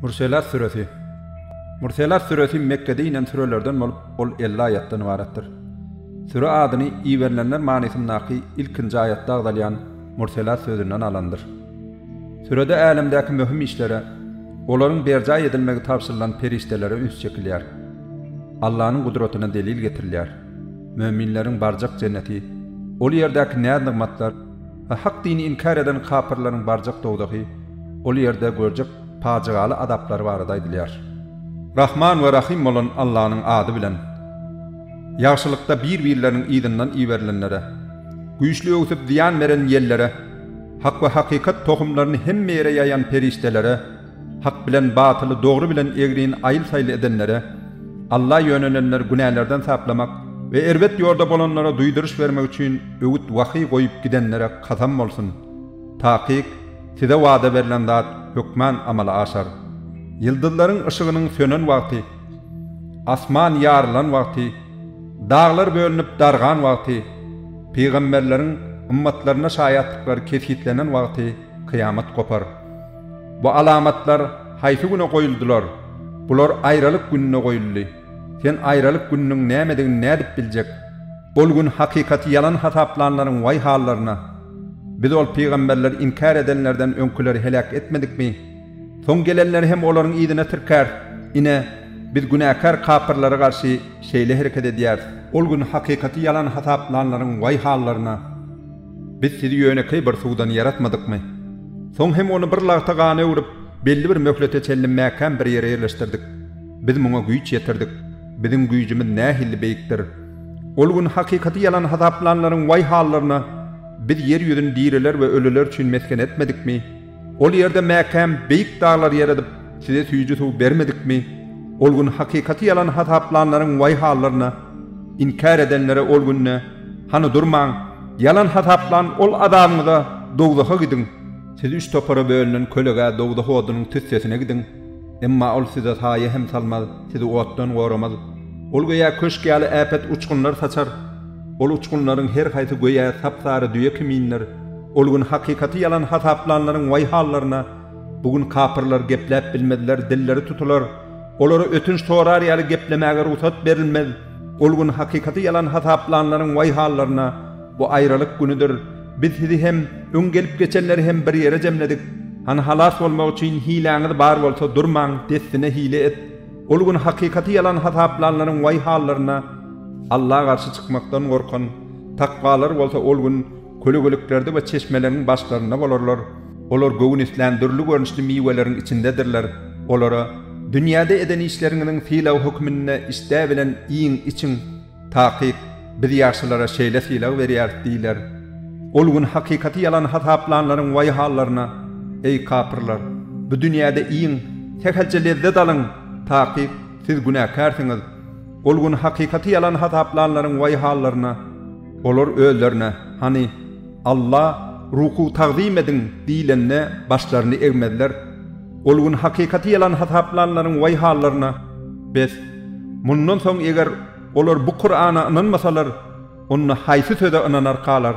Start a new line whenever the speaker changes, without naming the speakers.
Murselat süresi Murselat süresi Mekgede inen sürelerden bolup, ol elli aýatdan ybaratdyr. Süre adyny Iberilenler manysyndaky ilkinji aýatda agzalýan Murselat sözünden alandyr. Sürede älemdäki möhüm işlere, olaryň berjaý edilmegi tabşyrylan perişdelere üns çekilýär. Allanyň gudratyna delil getirilýär. Möminleriň barjak jenneti, ol ýerdäki näz-nygmatlar, A Hak dini inkär eden kapyrlaryň barjak dowzahy, ol ýerde görjek pajygaly azaplary barada aýdylýar. Rahman we Rahym bolan Allanyň ady bilen. Ýagşylykda bir-birleriniň yzyndan iberilenlere, güýçli öwsüp zyýan beren ýellere, hak we hakykat tohumlaryny hemme ýere ýaýan perişdelere, Hak bilen batyly, dogry bilen egrini aýyl-saýyl edenlere, Alla ýönelenleri günälerden saplamak we erbet ýolda bolanlara duýduryş bermek üçin öwüt-wahyý goýup gidenlere kasam bolsun! Takyk, size wada berlen zat hökman amala aşar. Ýyldyzlaryň yşygynyň sönen wagty, asman ýarylan wagty, daglar bölünip dargan wagty, pygamberleriň ymmatlaryna şaýatlyklary kesgitlenen wagty kyýamat gopar. Bu alamatlar haýsy güne goýuldylar? Bular aýralyk gününe goýuldy. Sen aýralyk gününiň nämedigini nädip biljek? Ol gün hakykaty ýalan hasaplanlaryň waý hallaryna! Biz ol pygamberleri inkär edenlerden öňküleri heläk etmedikmi? Soň gelenleri hem olaryň yzyna tirkäris. Ine, Biz günäkär kapyrlara garşy şeýle hereket edýäris. Ol gün hakykaty ýalan hasaplanlaryň waý hallaryna! Biz sizi ýönekeý bir suwdan ýaratmadykmy? Soň hem ony bir lagta gana öwrüp, belli bir möhlete çenli mäkäm bir ýere ýerleşdirdik. Biz muňa güýç ýetirdik. Biziň güýjümiz nähili beýikdir! Ol gün hakykaty ýalan hasaplanlaryň waý hallaryna, Biz ýer ýüzüni diriler we ölüler üçin mesgen etmedikmi? Ol ýerde mäkäm beýik daglar ýeredip, size süýji suw bermedikmi? Ol gün hakykaty ýalan hasaplanlaryň waý hallaryna! Inkär edenlere ol günde, Hany durmaň! Ýalan hasaplan ol azabyňyza, dowzaha gidiň! Siz üç topara bölünen kölegä dowzah odunyň tüssesine gidiň! Emma ol size saýa hem salmaz, sizi otdan goramaz. Ol göýä köşk ýaly äpet uçgunlar saçar. Ol uçgunlaryň her haýsy göýä sap-sary düýe kimindir. Ol gün hakykaty ýalan hasaplanlaryň waý hallaryna! Bu gün kapyrlar gepläp bilmezler, dilleri tutular. Olara ötünç sorar ýaly geplemäge rugsat berilmez. Ol gün hakykaty ýalan hasaplanlaryň waý hallaryna! Bu aýralyk günüdir. Biz sizi hem, öň gelip geçenleri hem bir ýere jemledik. Hany halas bolmak üçin hiläňiz bar bolsa durmaň, dessine hile et. Ol gün hakykaty ýalan hasaplanlaryň waý hallaryna! Alla garşy çykmakdan gorkan, takwalar bolsa ol gün kölegeliklerde we çeşmeleriň başlarynda bolarlar. Olar göwün islän dürli görnüşli miweleriň içindedirler. Olara, Dünýäde eden işleriňiziň sylagy hökmünde işdä bilen iýiň, içiň. Takyk, Biz ýaşlylara şeýle sylag berýäris diýler. Ol gün hakykaty ýalan hasaplanlaryň waý hallaryna! Eý, kapyrlar! Bu dünýäde iýiň, sähelçe lezzet alyň! Takyk, Siz günäkärsiňiz! Ol gün hakykaty ýalan hasaplanlaryň waý hallaryna! Olar özlerine, Hany, Alla, ruku tagzym ediň! diýlende, başlaryny egmezler. Ol gün hakykaty ýalan hasaplanlaryň waý hallaryna! Bes, mundan soň eger olar bu Kurana ynanmasalar, onda haýsy söze ynanarkalar?